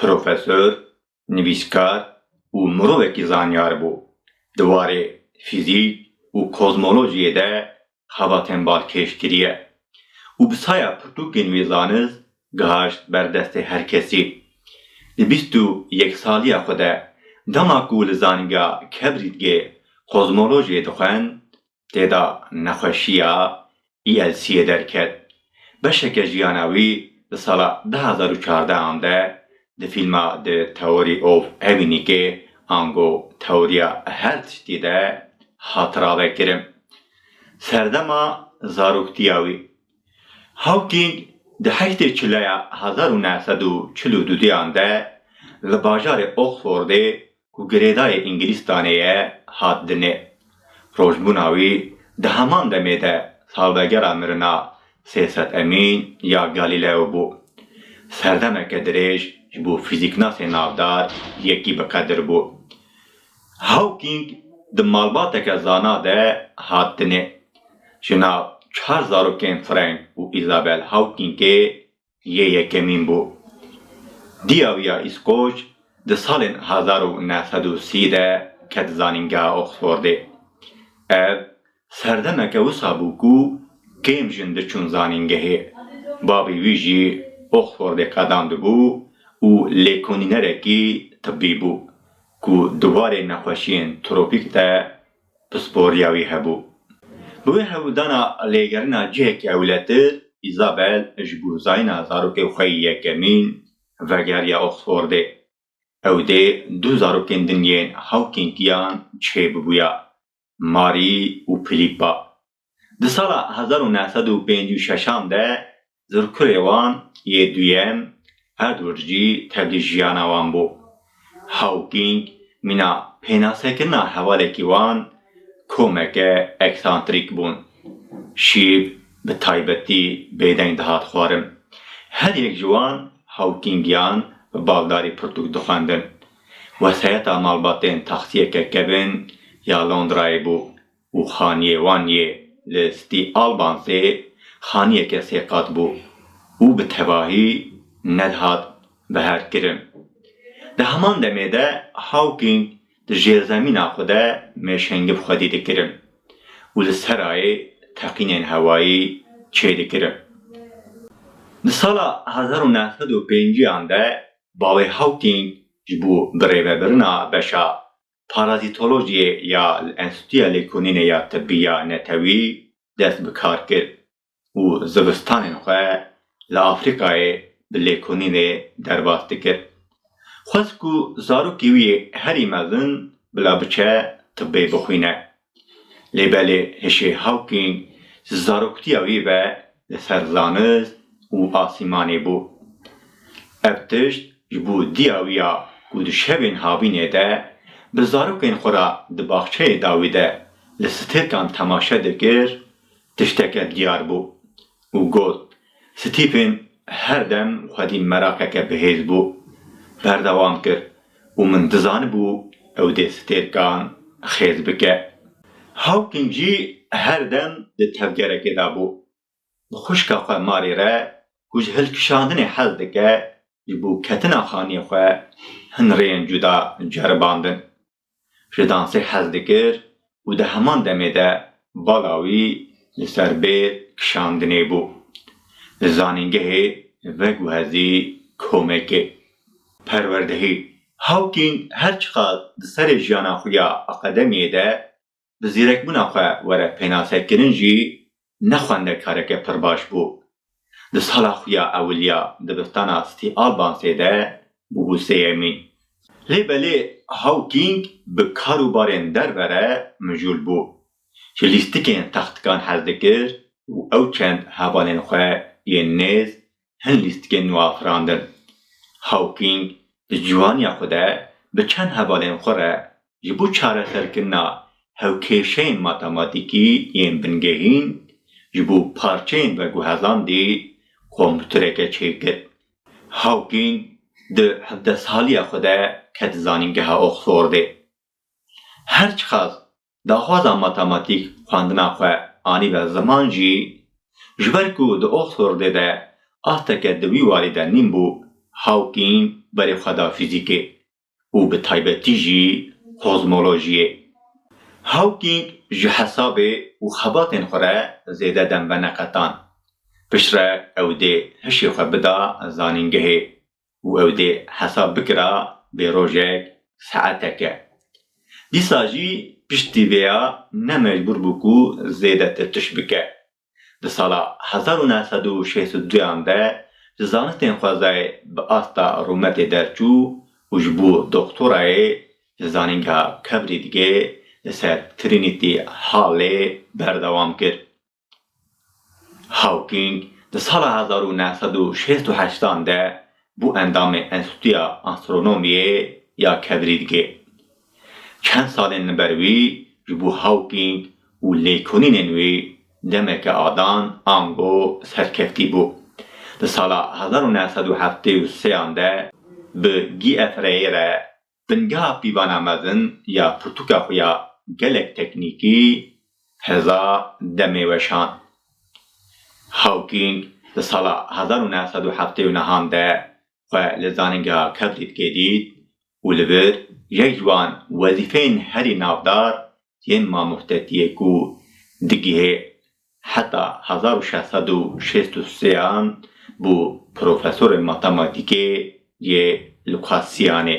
Profesor, nivîskar û mirovekî zanyar bû. Di warê fîzîk û kozmolojiyê de xebatên bal kêş kiriye û bi saya pirtûkên wî zanist gihaşt ber destê her kesî. Di bîst û yek saliya xwe de dema ku li Zanîngeha Kebrîtgê kozmolojiyê dixwend, Tê de nexweşiya ELC'ê derket. Beşeke jiyana wî di sala du hezar û çardeh an de di fîlma The Theory of Evinîkê, ango tewriya her tiştî de hat ravekirin. Serdema zaroktiya wî. Hawking di heştê çileya hezar û neh sed û çil û du dê an de li bajarê Oxfordê Ku girêdayê Îngilîstanê ye hat dinê. Rojbûna wî di heman demê de salvegera mirina Sêset Emîn ya Galîleo bû. Serdemeke dirêj ji bo fîzîknasên navdar yekî bi qedir bû. Hawkîng di malbateke zana de hat dinê. Ji nav çar zarokên Frank û Îzabel Hawkîngê Yê yekemîn bû. Diyawiya Îskoç di salên hezar û neh sed û sî de ket zanîngeha Oxfordê. Ev serdemeke wisa bû ku kêm jin diçûn zanîngehê. Bavê wî jî Oxfordê qedan dibû û lêkonînerekî tibî bû ku di warê nexweşiyên tropîk de Pisporîya wî hebû. Bi wê hewldana lêgerîna cihekî ewletir, Îzabel ji bo zayîna zarokê xwe yê yekemîn vegeriya Oxfordê. Ew dê du zarokên din yên hawkên tiyan çêbibûya, Marî û Philîppa. Di sala hezar û neh sed û pêncî û şeş an de zirkurê wan yê duyem Edward jî tevlî jiyana wan bû. Hawking mîna pênasekirina hevalekî wan komeke eksantrîk bûn. Şîv bi taybetî bêdeng dihat xwarin. Her yek ji wan Hawkingiyan bi baldarî pirtûk dixwendin. Wesayeta malbatên taksiyeke kevin ya Londrayê bû. û xaniyê wan yê li Stî Albansê xaniyeke sê qat bû û bi tevahî nedihat beherkirin. Di heman demê de Hawking di jêrzemîna xwe de mêşengî bi xwedî dikirin û li serayê teqînên hewayî çêdikirin. Di sala hezar û neh sed û pêncî yan de bavê Hawking ji bo birêvebirina beşa Parazîtolojiyê ya li Enstîtuya Lêkolînê ya Tibbî ya Netewî dest bi kar kir û zivistanên xwe li Afrîkayê bi lêkolînê derbas dikir. Xwest ku zarokê wî herî mezin bila biçe tibbê bixwîne. Lê belê hişê Hawking ji zaroktiya wî ve li ser zanist û asîmanê bû. Ev tişt ji bo diya wî ya ku di şevên havînê de bi zarokên xwe re di baxçeyê dawî de li stêrkan temaşe dikir, tişteke diyar bû. û got, Stîfên her dem xwedî meraqeke bihêz bû. Berdewam kir, Û min dizanibû ew dê stêrkan xêz bike. Hawking jî her dem di tevgerekê de bû. Bi xwişka xwe Mary re ku ji hilkişandinê hez dike ji bo ketina xaniyê xwe hin rêyên cuda ceribandin. ji dansê hez dikir û di heman demê de bala wî li ser bêr kişandinê bû. Li zanîngehê veguhezî komekê. Perwerdehî, Hawking her çiqas di serê jiyana xwe ya akademiyê de bi zîrekbûna xwe were pênasekirin jî ne xwendekareke pir baş bû. Di sala xwe ya ewiliya dibistana City Albansê de bûbû sêyemîn. Lê belê Hawking bi kar û barên derve re mijûl bû. Ji lîstikên textikan hez dikir û ew çend hevalên xwe yên nêz hin lîstikên nû afirandin. Hawking di ciwaniya xwe de bi çend hevalên xwe re ji bo çareserkirina hewkêşeyên matematîkî yên bingehîn ji bo parçeyên veguhezandî kompûtereke çêkir. Hawking di hevdeh saliya xwe de ket zanîngeha Oxfordê. Her çiqas daxwaza matematîk xwendina xwe anîbe ziman jî, ji ber ku di Oxfordê de asteke di wî warî de nîn bû, Hawking berê xwe da fîzîkê û bi taybetî jî kozmolojiyê. Hawking ji hesabê û xebatên xwe re zêde dem veneqetan. Piştre ew dê hişê xwe bida zanîngehê. û ew dê hesab bikira bê rojek, saeteke. Dîsa jî piştî vê ya ne mecbûr bû ku zêdetir tişt bike. Di sala hezar û neh sed û şêst û duyan de ji zanistên xwezayê bi asta rûmetê derçû û ji bo doktorayê li Zanîngeha Cambridgê li ser Trinity Hallê berdewam kir. Hawking di sala hezar û neh sed û şêst û heşt an de bû endamê Enstîtuya Astronomiyê ya Kedrîdgê. Çend salên li ber wî ji bo Hawking û lêkolînên wî demeke adan ango serkeftî bû. Di sala hezar û neh sed û heftê û sê an de bi GFRA'yê re Bingeha pîvana mezin ya pirtûka xwe ya gelek teknîkî hêza demê weşan. Hawking di sala hezar û neh sed û heftê û nehan de xwe li Zanîngeha Kevlîtkê dît û li vir yek ji wan wezîfeyên herî navdar yên mamostetiyê ku digihê heta hezar û şeş sed û şêst û sê an bû profesorê matematîkê yê Lukasiyanê.